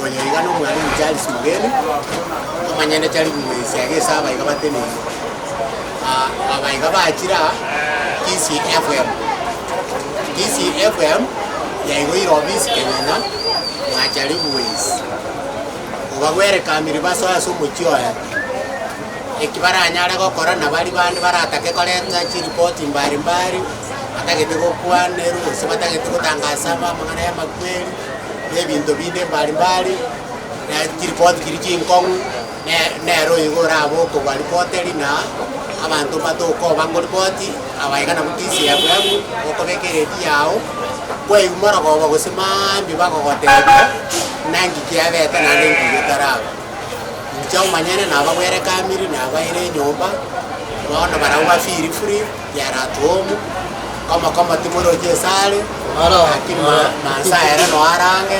Oyo iga nomwalimu Charles Mugeni, omonyene chari komoisia gese abaiga bateneine. Ah, abaiga bachire aa, Kisii FM. Kisii FM yaigoire obisi Kenyenya, mwachari Buwezi. obagwere kamiri basoe ase omochie oye. Eki baranyare gokora na baria bande baratake korenta chiripoti mbari mbari, batagete gokwanerwa gose batagete gotangasa aba amang'ana y'amakweri, na ebinto binde mbari mbari, na chiripoti chiria chinkong'u ne- nero igo orabe okobua ripoteri na abanto matokoba ngoripoti. Abaika na gutisia eyabu ebu okobeka eredi yao, kwaigwa rogoba gose maambia bagogotebia, Naki kiabete naende nki getaraba? Inche omonyene nabagwerekamiri nabaire enyomba, bono barabwo bafiri furi yaratuomu, komo komo timoroche esare, lakini mansa ere noarange.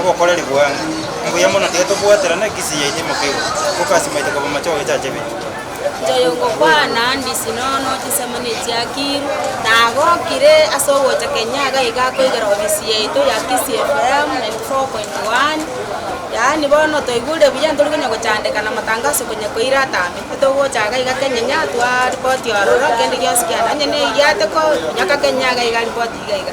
obokoreri bwane. Mbuya mono tiga tobwaterane ekisi yaito imoke igoro, tokasimaite koba amache gogechacha ebinto. Nchoyo ngokwana ndisi nono chinsemo nechiakiru, na agokire ase ogocha kenyaga iga akoigera ofisi yaito ya Kisii FM 94.1, yaani bono toigure buya ntori konya gochandeka na matangaso konya koira atambe, togocha iga iga kenyinya twa ripoti ororo kende gionsi kiane, onye ne eyiateko, nyoka kenyaga iga ripoti iga iga.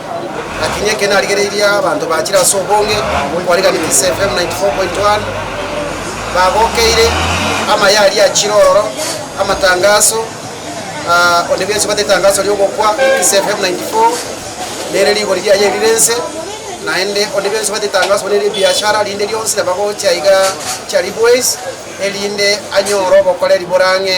Lakini eke narigereirie abanto bachire ase obonge bw'okwarekanigwa ase FM 94.1 bagokeire amaye aria achire ororo, amatangaso, ah, onde bwensi obate etangaso ri'ogokwa ase FM 94 nere rigori riaye erire ense, naende onde bwensi obate etangaso buna eri'ebiashara rinde rionsi nabo agocha iga Charibois erinde anyore obokoreri bore ang'e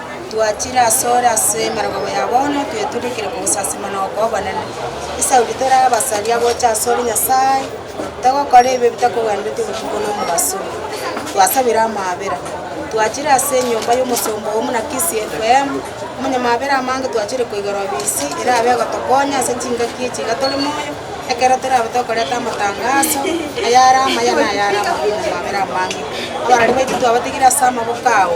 Twachire asore ase emerogabo ya bono, tweturikire kogosasima na okoa obonene. Esaudi tore abasaria gocha asore Nyasae, togokora ebibe bitakogwenereti obotuko na omobaso. Twasabire amaabera. Twachire ase enyomba y'omosomba oo buna KCFM, omonyamaabera amange twachire koigera obisi erabe egotokonya ase chingaki echi iga tore moyo, ekero torabe tokoreta amatangaso, ayare amaya na ayare amabe omonyamaabera amange. Abarwani baito twabatigire ase amaboko ao.